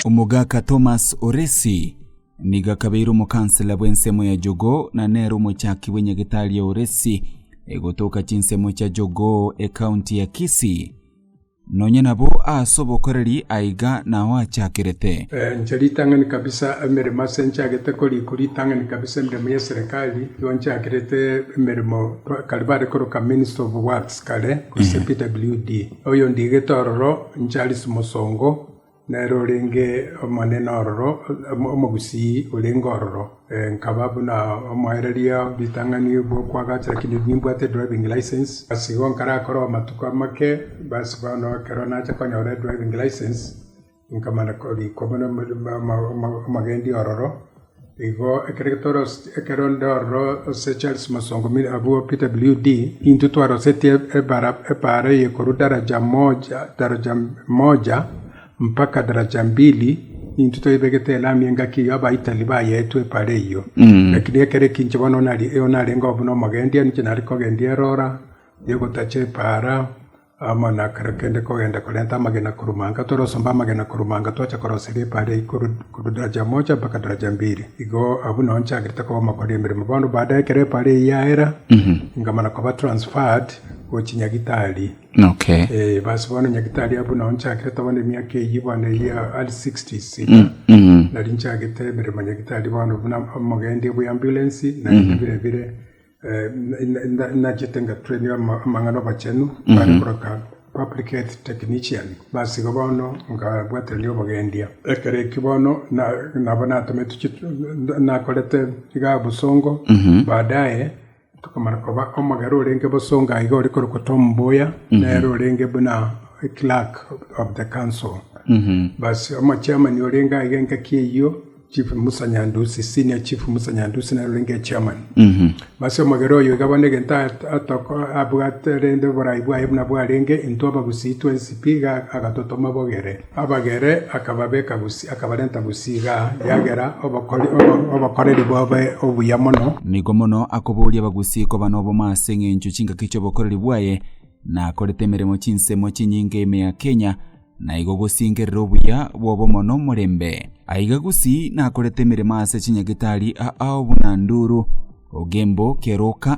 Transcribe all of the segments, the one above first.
Omogaka Thomas Oresi nigo akabeire omokansela bw'ensemo ya Jogoo na nere omochaki bwe Nyagetari ya Oresi egotoka chinsemo chia Jogoo e county ya Kisii. Nonya nabo aase obokoreri aiga nao achakerete. Inche ritang'ani kabisa emeremo ase nchagete koriku ritang'ani kabisa emeremo ye serikali igo nchakerete emeremo kare bare koroka minister of works kare gose PWD oyo ndigete ororo ncharis mosongo Nere orenge omonene ororo, omogusii orenge ororo, nkaba buna omoereria o ritang'ani bw'okoagacha, lakini nimbwate edriving licence. Ase igo nkarakore amatuko amake, basi bono ekero nacha konyora edriving licence, nkamana korikwa buna omogendi ororo. Igo ekero toroseti ekero onde ororo ase Charles Musongo Miri abwo Peter WD, intwe twarosetie ebara ebaara eye korwa daraja moja daraja moja mpaka daraja mbili, intwe toyebegete elami engaki eyio abaitari bayeetwe ebaara eyio. Lakini ekero eki inche bono nari- narengeo buna omogendia, ninche nare kogendia erora, ya ogotacha ebaara, Amo na kera kende kogenda korenta amagena korwa manga, torosomba amagena korwa manga twache koroseria ebaale eye korwa daraja mocha mpaka daraja mbiri. Igo abwo nao nchiagerete koba omokori emeremo. Bono baada ekero ebaale eyio yaera, inga mana koba transferred gochia Nyagitari. Okay. Eh, basi bono Nyagitari abwo nao nchiagerete bono emiaka eyio bono eyio ya early 60s iga. Nari nchiagete emeremo Nyagitari bono buna omogendia bw'eambulance naende bire bire. Nachete nga train amang'ana obachenu are koroka public health technician base igo bono nkabwaterania obogendia ekero ekio bono nabo natomete nakorete iga bosongo baadaye nkomana koba omogera orenge bosongo aye iga ore korokwa Tom Mboya nere orenge buna clerk of the council basi omochairman orenge aiga engaki eyio. Chief Musa Nyandusi, Senior Chief Musa Nyandusi naro renge Chairman. Base omogera oyo iga bono egento at- atoko- abwate rende oborai bwaye buna bwarenge, intwe Abagusii twensi pi iga agatotoma bogere. Abagere akababeka Gusii, akabarenta Gusii iga yagera obokori- obo- obokoreri bobe obuya mono. Nigo mono akoboria Abagusii koba noboma ase eng'encho chingaki chi'obokoreri bwaye, na akorete emeremo chinsemo chinyinge ime ya Kenya, na igo gosinkerera obuya bw'obomo nomorembe. Aiga gusii nakorete emeremo ase chinyagitari aao buna nduru, ogembo, keroka,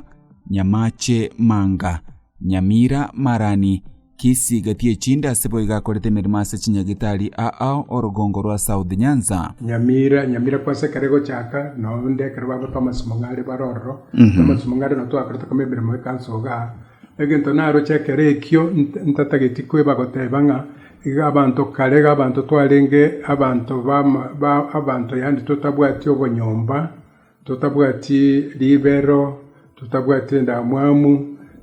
nyamache, manga, nyamira, marani, kisi, gati echinde ase boigo akorete emeremo ase chinyagitari aao orogongo rwa South Nyanza. Nyamira, Nyamira kwase ekero egochaka, na onde ekero bagotwa amasimo ng'are bare ororo, na amasimo ng'are nabo twakorete kome emeremo ekansa igaa, Egento naroche ekero ekio ntatageti kweba goteba ng'a iga abanto kare iga abanto twarenge abanto abanto yaani totabwati obonyomba, totabwati ribero, totabwati endamwamu,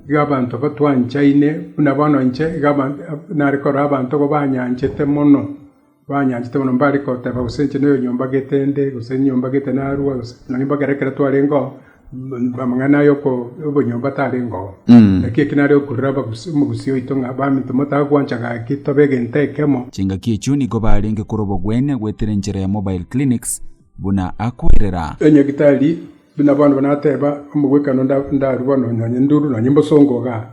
iga abanto batwanchaine buna bono inche iga abanto nare korora abanto igo banyanchete mono. Banyanchete mono mbare goteba gose inche noyo nyomba getende, gose nyomba getena arua, gose nonya mpaka ere ekero twarengeo, amang'ana aya obonyomba tarengeo. Naki eki nare okorera abagusi- omogusi oito ng'a, Baminto, motagwancha gaki tobe egento ekemo. Chingaki echio nigo barenge kore obogwene gwetera enchera ya mobile clinics, buna akoirera. Enyagitari buna bono bono nateba, omogwekano nda- ndarue bono nonya nduru nonya mbosongo igaa,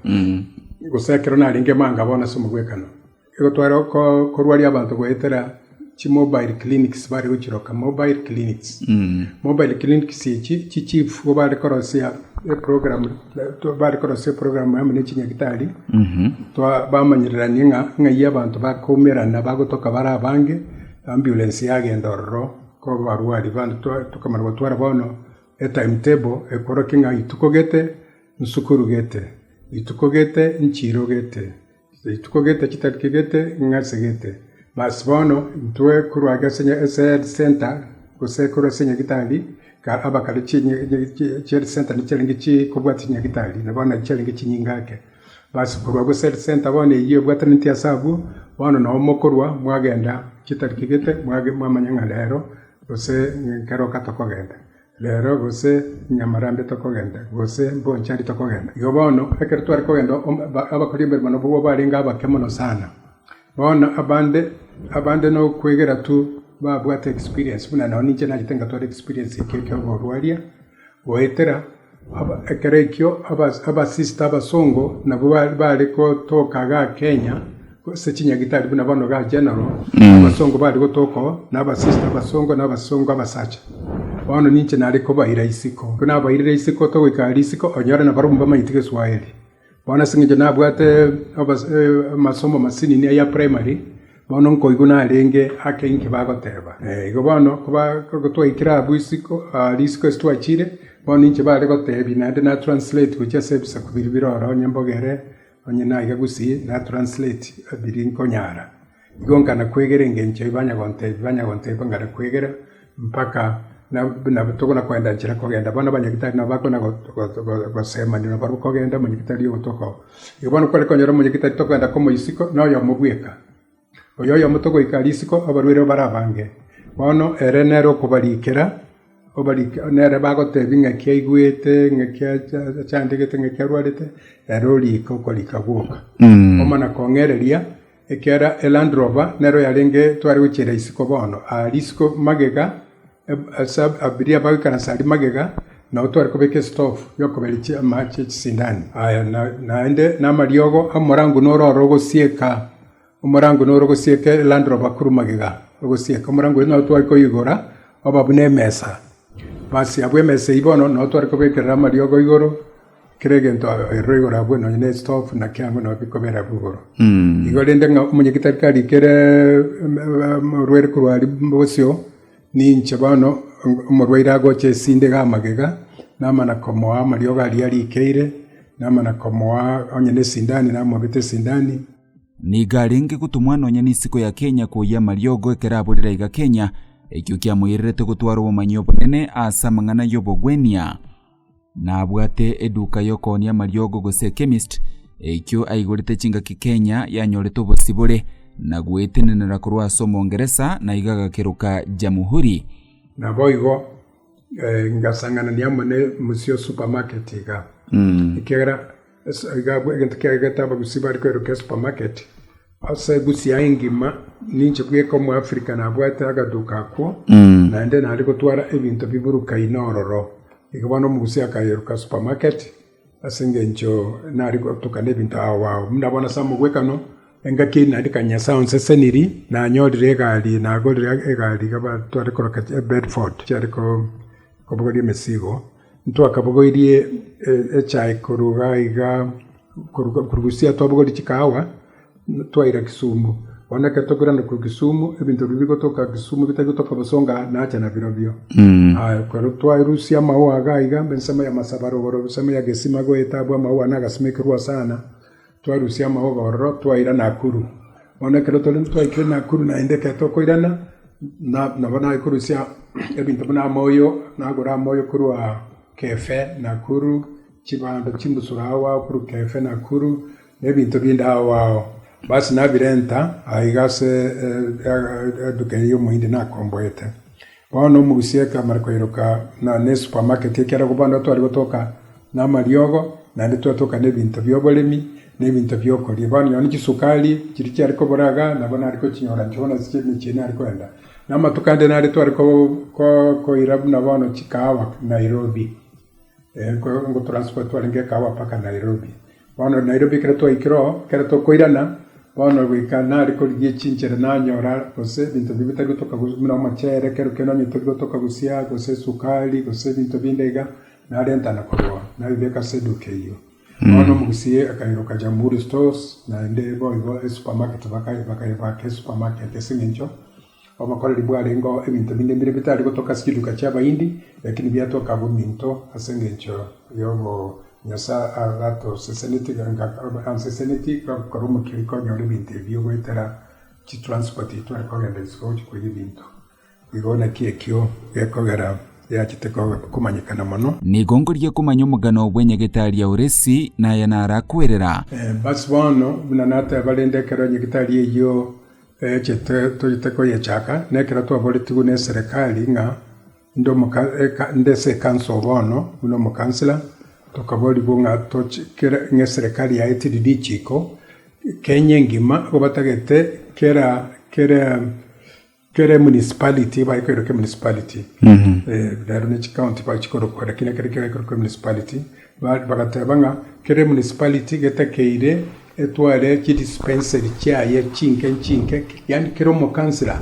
gose ekero narenge emanga bono ase omogwekano, Igo tware korwaria abanto goetera chimobile clinics, bare gochiroka mobile clinics. Mobile clinics echi chichief nigo bare korosia eprogram, bare korosia eprogram amo ne chinyagitari, bamanyereranie ng'a ng'ai abanto bakoumerana bagotoka bare abange, ambulance yagenda ororo korwa abarwari bande tokamanya gotwara bono etime table ekorokia ng'a rituko gete, isuku gete, rituko gete, nchiro gete. Rituko gete chitariki gete ng'a asegete. Bas, bono intwe korwa age ase ehead center, gose korwa ase enyagitari, abakare chi'ehead center nichiarenge chikobwata chinyagitari, na bono nachi chiarenge chinyinga ake. Bas, korwa agwo ase ehead center bono eyio ebwatanetie ase abwo, bono nabo mokorwa mwagenda chitariki gete mwamanya ng'a rero gose ekero tokoba togenda. Rero gose nyamarambe tokogenda, gose mbonchari tokogenda. Igo bono, ekero tware kogenda abakori emeremo nabwo barenge abake mono sana. Bono abande, abande nokwegera tu babwate experience buna nao ninche nachete ngatwara experience ekio ki'oborwaria, goetera ekero ekio abasister abasongo nabwo bare gotoka igaa Kenya. gose chinyagitari buna bono ba general, abasongo bare gotoka oo, na abasista abasongo, na abasongo abasacha. Bono ninche nare kobaira isiko. Ekero nabairire isiko togoika risiko, onyore nabarabwo mbamaete Geswahili. Bono ase eng'encho nabwate obos- eh, amasomo masinini aya primary, bono nkoigwa narenge ake inki bagoteba. Eh, igo bono koba ekero twaikire abwo isiko ah risiko ase twachire, bono ninche bare gotebia naende na translate gochia ase ebisaku biria bire ororo, onye mbogere, Onye naiga gose natranslate biri nkonyara, igo nkana kwegera engencho ebi banyagontebia, banyagontebia nkana kwegera mpaka nabo tokona koenda nchera kogenda. Bono abanyagitari nabo bakona gosemania na barabwo kogenda omonyagitari ogo toko. Igo bono kware konyora omonyagitari tokoenda komoisiko na oyomo bweka. Oyoyomo togoika risiko abarwere barabange. Bono ere nere okobarikera, nere bagotebia ng'aki aigwete, ng'aki achandegete, ng'aki arwarete, ere oriike okorika gwoka. Omonakong'ereria, ekiagera eLandrover nero yarenge tware gochiera isiko bono, aa risiko magega, Ase abaria abagoikaransa aria magega nao tware kobeka esitofu y'okoberechia amache ye chisindani aya, naende namariogo amorango noro ore ogosieka, omorango noro ogosieka elandroba korwa magega ogosieka. Omorango oyio nao tware koigora oba buna emesa. Basi abwo emesa eyio bono nao tware kobekerera amariogo igoro, kera egento eroro igoro agwo nonya ne esitofu naki ang'we nao bikobera abwo igoro. Igo rende ng'a omonyagetari karikere orwere korwa aria bosio, Ninche bono omorwaire agocha esindi iga amagega, namana komoa amariogo aria arikeire, namana komoa onye nesindani namobete esindani. Nigo arenge gotumwa nonya n'isiko ya Kenya koyia amariogo ekero aborire aiga Kenya, ekio kiamoirerete gotwara obomanyi obonene aase amang'ana y'obogwenia. Nabwate eduka y'okooonia amariogo gose ekemist, eikio aigorete chingaki Kenya yanyorete obosibore na gwetenenera korwa ase Omongeresa na iga agakeroka Jamhuri. Naboigo ngasang'anani amo ne Musio Supermarket iga, ekiagera Iga abwo egento kiagegete abagusi bare kwerokia esupermarket ase egusi yaye engima, ninche bweka omoafrika nabwate agaduka akwo, naende nare gotwara ebinto biburukaine ororo. Iga bono omogusi akayeroka esupermarket ase engencho nare gotuka nebinto ao ao. Buna bono ase amogwekano, engaki eyio naende kanya nyasae onseseniri, nanyorire egari, nagorire egari iga batware koroka Bedford chiare kobogoria emesigo. Ntwakabogoirie echae korwa iga iga, korwa Busia twabogorire chikahawa, twaira Kisumu. Bono ekero tokoirana korwa Kisumu, ebinto biria bigotoka Kisumu bitari gotoka bosonga, nacha nabirobio. Ekero twarusia amaoa iga iga, ensemo y'amasaba rogoro, ensemo ya gesima goeta abwo amaoa nagasima ekerua sana, Twarusia amauga ororo, twaira Nakuru. Bono ekero tore twaikire Nakuru naende ekero tokoirana, nabo naye korusia ebinto buna amoyo, nagora amoyo korwa KEFE Nakuru, chibando chimbusuro agho agho korwa KEFE Nakuru, na ebinto binde agho agho. Basi nabirenta aiga ase eduka eye omohindi nakomboete. Bono omogusii amare koiroka buna nesupamaketi, ekiagera bono tware gotoka namariogo, naende twatoka nebinto bioboremi, na ebinto biokoria. Bono nonya chisukari chiria chiare kobora iga, nabo nare kochinyora inche bono ase chirimo echi nare koenda. Na amatuko ande nare tware koira buna bono chikahawa Nairobi, ngotranspotiwa renge ekahawa mpaka Nairobi. Bono Nairobi ekero twaikire oo, ekero tokoirana bono goika nare korigia echinchera nanyora gose ebinto biri bitari gotoka gose buna omochere ekero kende onye tori gotoka gosia gose esukari gose ebinto binde iga narenta na korwa oo nabibeka ase eduka eyio. Bono omogusii akairoka Jamhuri Stores naende boigo esupermarket baka bakaebaka esupermarket ase eng'encho Obokoreri bwarengeo ebinto binde mbire bitari gotoka ase chiduka chi'Abayindi, lakini biatoka abwo minto ase engencho y'obo Nyasae agatoseseneti anseseneti korwa omokiri konyora ebinto ebio goetera chitransport eye tware kogenda ase gocha koyia ebinto. Igo naki ekio gekogera yachete komanyekana mono. Nigo nkoria komanya omogano bw'enyegete aria Oresi, na aya nara kwerera. Basi bono, buna nateba rende ekero enyegete aria eyio Eye toyete koyechaka, nekero twaboretigwe neserekari ng'a inde ase ekanso bono buna omokansela, tokaborigwa ng'a eserekari yaye teri richiiko, Kenya engima nigo batagete kera emunicipality ebae korokwa emunicipality, rero ne chikaonti bachikorokwa lakini ekero kiaye korokwa emunicipality, bagateba ng'a kera emunicipality getakeire Etware chidispenseri chiaye chinke chinke, yaani kera omokansela,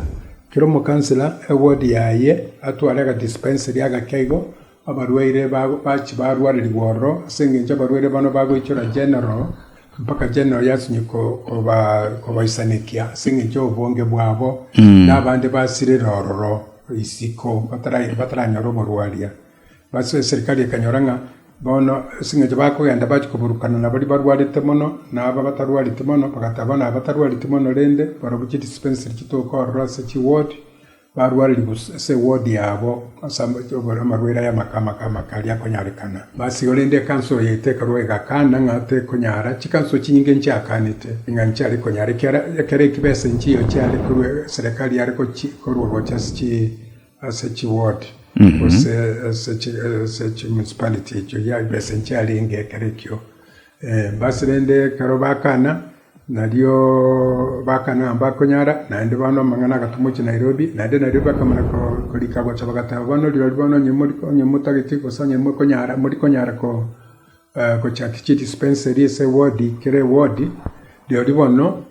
kera omokansela ewodi yaye atware agadispenseri agake igo, abarwaire bache barwarerigwa ororo, ase engencho abarwaire bano bagoichora general, mpaka general yasinywa kobaisanekia ase engencho y'obonge bwabo, na abande basirera ororo isiko bataranyora oborwaria. Ase eserikari ekanyora ng'a bono ase engencho bakogenda bachia koburukana nabaria barwarete mono na aba batarwareti mono, bagataba nabatarwareti mono rende barobwo chidispensary chitoka ororo ase chiwodi, barwarerigwe ase ewodi yabo ase amarwaire aya amake amake amake aria akonyarekana. Basi korende ekanso yaito ekarwa egakana ng'a tekonyara, chikanso chinyinge nchiakanete ng'a nchiare konyara ekiara ekero ekio besa enchio chiare korwa eserikari yare korwa gocha ase chi. Ase chiward, gose ase chimunicipality echio ya ebesa nchiarenge ekero ekio. Basi rende ekero bakana, nario bakana nabo bakonyara, naende bono amang'ana agatwa mochie Nairobi, naende Nairobi bakamana korika gocha bagateba bono rirorio bono onye motagete gose onye mokonyara morikonyara ko. Gochaki chi dispensary ase eward kera eward, rirorio bono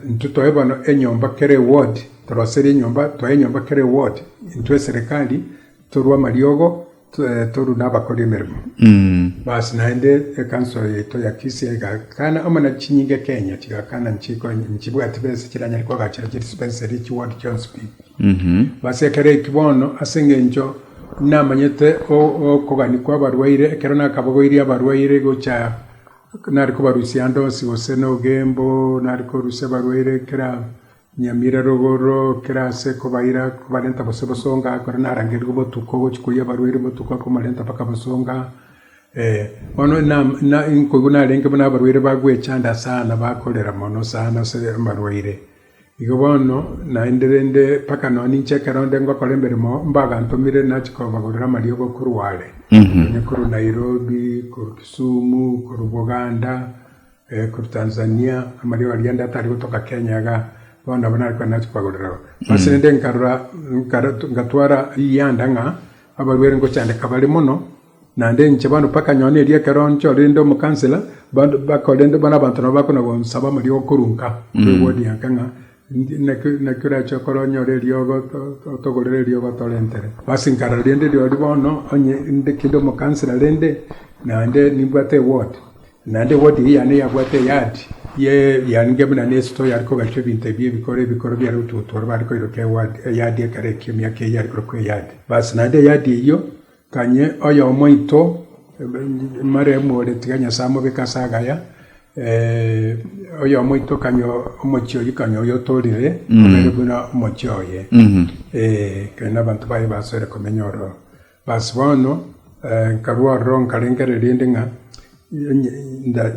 intwe toe bono enyomba kera eward, toroseri enyomba toe enyomba kera eward intwe eserekari torwe amariogo torwe na abakori emeremo. Basi naende ekanso yaito ya Kisii egakana amo na chinyinga ekenya chigakana nchibwati besa chiranyare kogachera chidispensary chiward chionsi pi. Basi ekero ekio bono ase engencho. Namanyete okogania kw'abarwaire, ekero nakabogoirie abarwaire gocha nare kobarusia ande onsi gose nogembo, nare korusia abarwaire kera nyamira rogoro, kera ase kobaira kobarenta gose bosonga, ekero narangeria obotuko gochia koiyia abarwaire obotuko kobarenta mpaka bosonga, eh. Bono nkoigwa narenge buna abarwaire bagwechanda sana, bakorera mono sana ase abarwaire. Igo bono naende rende mpaka nonye ninche ekero onde ngokora emeremo mbagantomire nachi kobagorera amariogo korwa are, onye korwa Nairobi, korwa Kisumu, korwa Buganda, eh, korwa Tanzania, amariogo aria ande atari gotoka Kenya iga, bono nabo nare kogenda nachi kobagorera abwo. Ase rende nkarora, nkara- ngatwara rianda ng'a abarwere ngochandeka bare mono, Naende inche bono mpaka nyone erio ekero nchorerende omokansela, bande bakorende bono abanto nabo bakona gonsaba amariogo korwa nka, twewodia nka ng'a ndi- naki naki orache okore onyore eriogo to- to- otogorere eriogo torentere. Basi nkarora rende rirorio bono onye inde kinde omokansela rende, naende nimbwate ewod, naende ewod eyio yane yabwate eyadi ye yaringe buna ne esito yare kogachwa ebinto ebi ebikoro ebikoro biare gotugutuoro bare koiroka ewod eyadi ekero ekio emiaka eyio yare korokwa eyadi. Basi naende eyadi eyio Ganye oyomo oito Mariamu ore tiga Nyasae amobeke ase agaya, oyomo oito kanye omochie oyio kanye oyotorire obere buna omochie oye, kere nabanto baye basore komenya ororo. Bas bono nkarwa ororo nkarengera erinde ng'a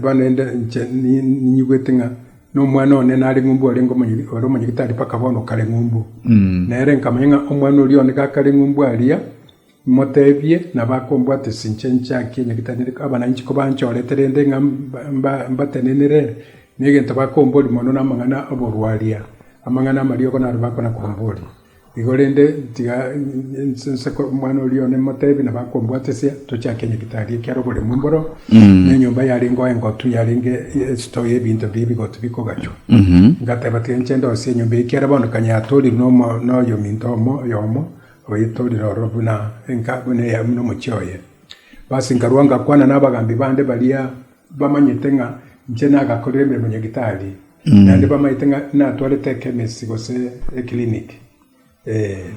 Bono inde inche ninyigwete ng'a nomwana one nare ng'umbu ore omonyegitari mpaka bono okare ng'umbu. Nere nkamanya ng'a omwana oria one gakare ng'umbu aria, moteebie nabo akombwata ase inche nchiake nyagitari. Abana inche kobanchorete rende ng'a mbatenenere, negento bakomboria mono namang'ana oborwaria, amang'ana amariogo naro bakona komboria. Igo rende, tiga inse omwana oria one motebi na bakombwatesia, tochake nyagetari ekia roboremu mboro, na enyomba yarengeo engotu yarenge esito y'ebinto biria ebigotu bikogachwa. Ngateba, tiga inche ndosie enyomba eye ekiara bono kanya yatorirwe noyominto omo oyomo, oyetorire ororo buna buna omochie oye. Basi nkarua ngakwana nabagambi bande baria. Bamanyete ng'a inche nagakorire emeremo ya gitari, naende bamanyete ng'a natwarete ekemesi gose ekiriniki.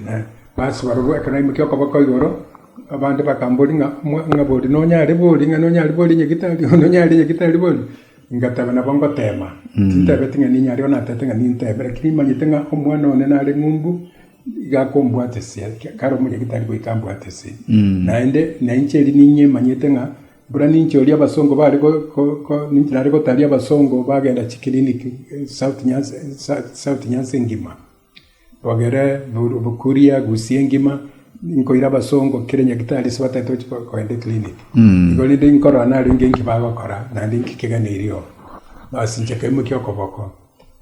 Na ase barabwo ekero naimokia okoboko igoro, abande bakamboria ng'a ng'a bori nonyare bori, ng'a nonyare bori onye gitari, ng'a nonyare onye gitari bori. Ngateba nabo ngotema, tintebeti ng'a ninyare bono natebete ng'a ninteme, rakini nimanyete ng'a omwana one nare ng'umbu, iga akombwatesia, kare omonye gitari goika ambwatesie. Naende nainche erio ninyemanyete ng'a Buna ninche oria abasongo bare ninche nare gotaria abasongo bagenda chikiriniki South Nyanza engima, twagere Bukuria, Gusii engima, nkoira abasongo kera nyagetari ase bataete gochia kogenda ekiriniki. Igo rende nkorora narenge nki bagokora naende nki kegeneirio oo. Bas inche nkaimokia okoboko.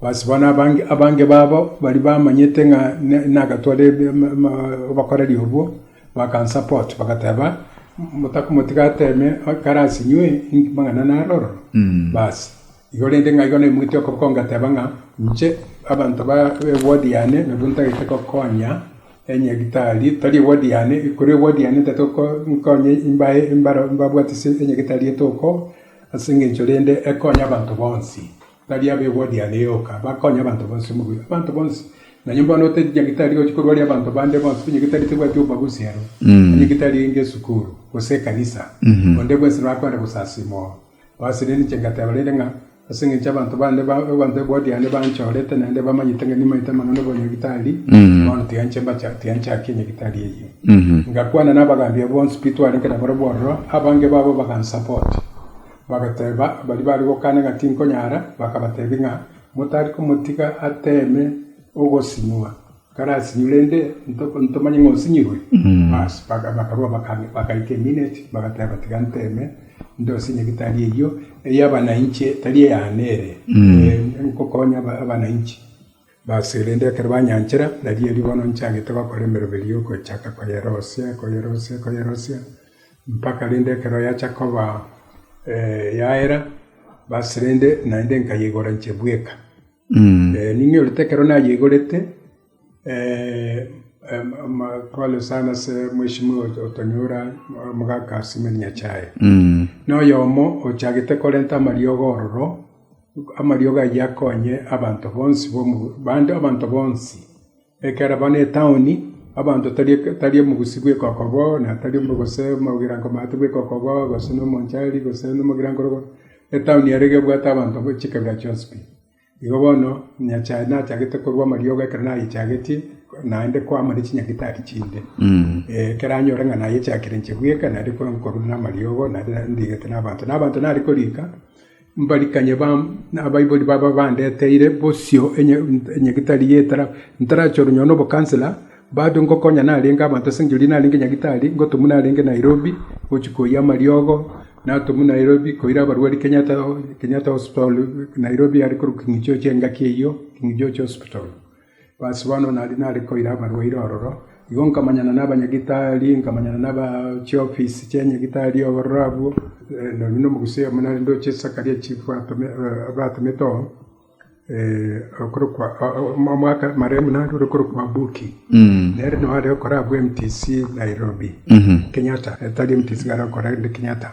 Bas. Bono abange babo baria bamanyete ng'a nagatware obokoreri obwo, bakansapot, bagateba, Motigateeme ekero as'inwe amang'ana naro ororo. Bas. Igo rende ng'a igo naimoketie okoboko ngateba ng'a inche abanto ba ewodi yane nabwo ntagete gokonya enyagitari, tari ewodi yane, korwa ewodi yane ntagete nkonye mbae mbabwate ase enyagitari etogokoo as'engencho rende ekonye abanto bonsi. Baria abegwa diane yoka bakonya abanto bonsi omobuya. Abanto bonsi, nonye bono oteti nyagitari gochia korwaria abanto bande bonsi, nyagitari tebwati obobagusi aro, na nyagitari enge esukuru, gose ekanisa, onde bwensi norakwenda gosasiima oo. Bas rende inche ngateba rende ng'a ase engencho abanto bande ba abanto abegwa diane banchorete naende bamanyete ng'a nimaete amang'ana obonyagitari, bono tiga inche mbacha tiga nchakia nyagitari eyio. Ngakwana na abagaambia bonsi pi twarenge nabarabwo ororo, abange babo bagansupport. Bagateeba baria bare gokana ng'a tinkonyara, bakabateebia ng'a, Motari komotiga ateeme ogosinywa, karasinywe, rende ntomanye ng'a osinyirwe. Basi, bakarua bagaika emino echi, bagateeba, Tiga nteeme ndosinye gitari eyio ey'abana inche, tari eyane ere, ngokonya abana inche. Baso erende ekero banyanchera, nari erio bono nchagete gokora emeremo eria y'ogochaka koyerosia, koyerosia, koyerosia, mpaka rende ekero yacha koba yaera, baso rende naende nkayeigora inche bweka. Ning'iyorete ekero nayeigorete, pole sana ase mweshimiwa otonyora omogaka Simon Nyachae. Noyomo ochagete korenta amariogo ororo. Amariogo ayio akonye abanto bonsi bande, abanto bonsi. Ekero abana etaoni, abanto tari tari omogusii bw'ekoko bo, na tari gose omogirango maate bw'ekoko bo, gose na omonchari, gose na omogirango robo, etaoni ere iga ebwate abanto ba chikabira chionsi pi. Igo bono, Nyasae nachagete korua amariogo ekero nayechagetie, naende koama ne chinyagitari chinde. Eeh ekero anyore ng'a nayechakire inche bweka, naende korwa nkorwa na amariogo, naende ndigete na abanto. Na abanto nare korika. mbarikanye abaibori babo abandeteire bosio onye gitari y'etara, ntarachorwe nyoo nobokansela, bado ngokonya narenge abanto ase engencho eria narenge nyagitari, ngotumwa narenge Nairobi gochia koyia amariogo, natumwa Nairobi koira abarwari Kenyatta Kenyatta Hospital Nairobi aria korokwa king'ichocho engaki eyio, King'ichocho Hospital. Ase bono nari nare koira abarwaire ororo, igo nkamanyana nabanyagitari, nkamanyana naba chiofisi chia nyagetari ororo abwo, nonya na omogusia oyomo nare ndoche Sakaria chief abatomete oo, okorokwa omwaka marehemu naye ore korokwa Buki. Nere nere ore korabwo MTC Nairobi, Kenyatta, tari MTC kare okora ende Kenyatta.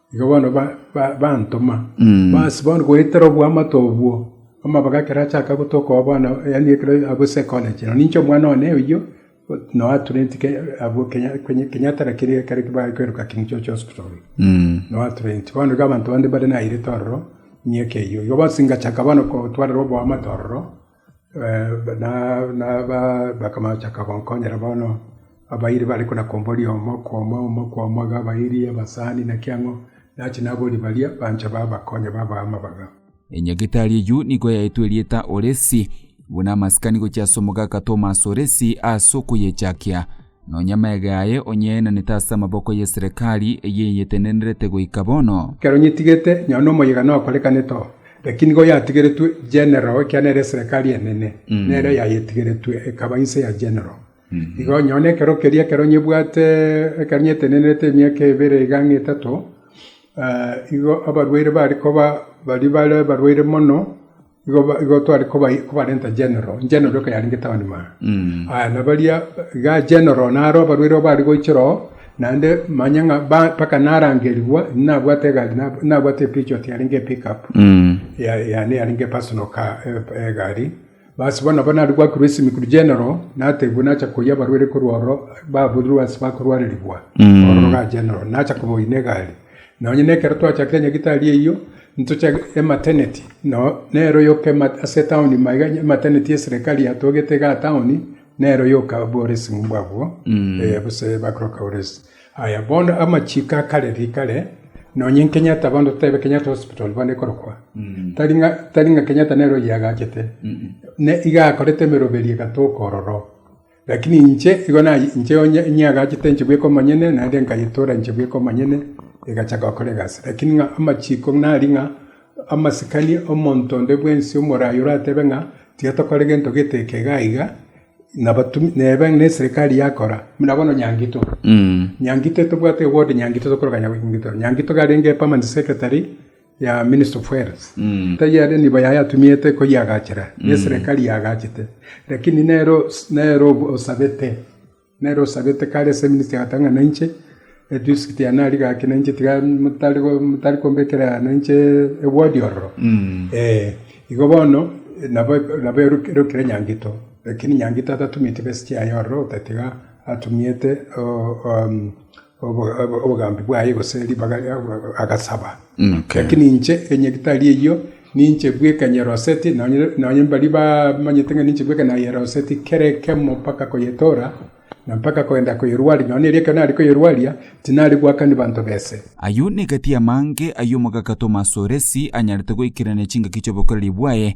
Igo bono bantoma, basiba bono goetera oboamate obwo, amabaga ekero achaka gotoka bono, yaani ekero abwo psychology. Nonye inche omwana one oyio, noa trained abwo Kenyatta lakini ekero baye kweroka King George Hospital, noa trained. Bono iga abanto bande mbare nairete ororo, miaka eyio. Igo bosi ngachaka bono gotwarerwa oboamate ororo. Bakamachaka gonkonyera bono, abairi bare kona-komba oria omo kwa omo, omo kwa omo, iga abairi, abasani, naki ang'o, nache naboria baria banche babakonye babaa amabaga. Enyagetari eyio nigo yaetwe erieta Oresi, buna amasikani gochia ase omogaka Tomas Oresi ase okoyechakia. Nonya amage aye onyaenanete ase amaboko y'eserekari eyeyetenenerete goika bono. Ekero nyetigete, nyabu nomoyega nokorekanete oo, lakini nigo yatigeretwe general, ekiagera nere eserekari enene nere yayetigeretwe ekaba inse ya general. Igo onye one ekero keria ekero nyebwate, ekero nyetenenerete emiaka ebere iga ang'e etato, igo abarwaire bare koba baria bare abarwaire mono, Igo tware kobarenta General, General eke yarenge town mao. Aya nabaria iga General naro abarwaire igo bare goichora oo, naende manya ng'a mpaka narangerigwa, inwe nabwate egari, nabwate epechot yarenge epick up yane yarenge epersonal car, egari. Bas bono nabo naria gwakerwa esimi korwa General, naterigwa nacha koyia abarwaire korwa ororo, baburirwe ase bakorwarerigwa ororo iga General, nacha kobaoyia na egari. Nonya nekero twachakire nyagitari eyio, ntoche emateneti, nero yoka ase etaoni maiga, emateneti y'eserekari yatogete iga etaoni, nero yoka bworesimbe abwo, gose bakoroka oresi. Aya bono amachiko a kare rikare, nonya Kenyatta bono totebe Kenyatta Hospital bono ekorokwa, tari ng'a tari ng'a Kenyatta nere oyio agachete, ne iga akorete emeroberio egatoka ororo. Lakini inche, igo naye, inche onye niagachete enchegu bweka omonyene, naende nkayetora enchegu bweka omonyene, egachaka gokora egasi. Lakini ng'a amachiko nari ng'a amasikani omonto onde bwensi omoraai oratebe ng'a tiga tokore gento gete eke iga iga, nabatumia nebe na eserekari yakora, buna bono Nyangito. Nyangito tobwate ewodi Nyangito tokorokana Nyangito. Nyangito iga arenge permanent secretary. ya Minister of Health, tari aria nigo yayatumiete koyeagachera, neserekari yagachete, lakini nero nero osabete, nero osabete kare ase minister agoteba ng'a nainche edistrict yane aria gaki nainche tiga motari motari kombekera nainche eward ororo eh, igo bono nabo nabo ero ero kera nyangito, lakini nyangito atatumieti best chiaye ororo otatiga atumiete o- om- obogambi bwaye, gose ribaga agasaba. Lakini inche onye tari eyio, ninche bweka nyeroseti, nonye mbaria bamanyete ng'a ninche bweka nayeroseti kera ekemo mpaka koyetora, na mpaka kogenda koyerwaria, nonya erio ekero nare koyerwaria, tinari goakania banto bese. Ayio negati amange ay'omogaka Tomas o Resi anyarete goikerania chingaki chi'obokoreri bwaye,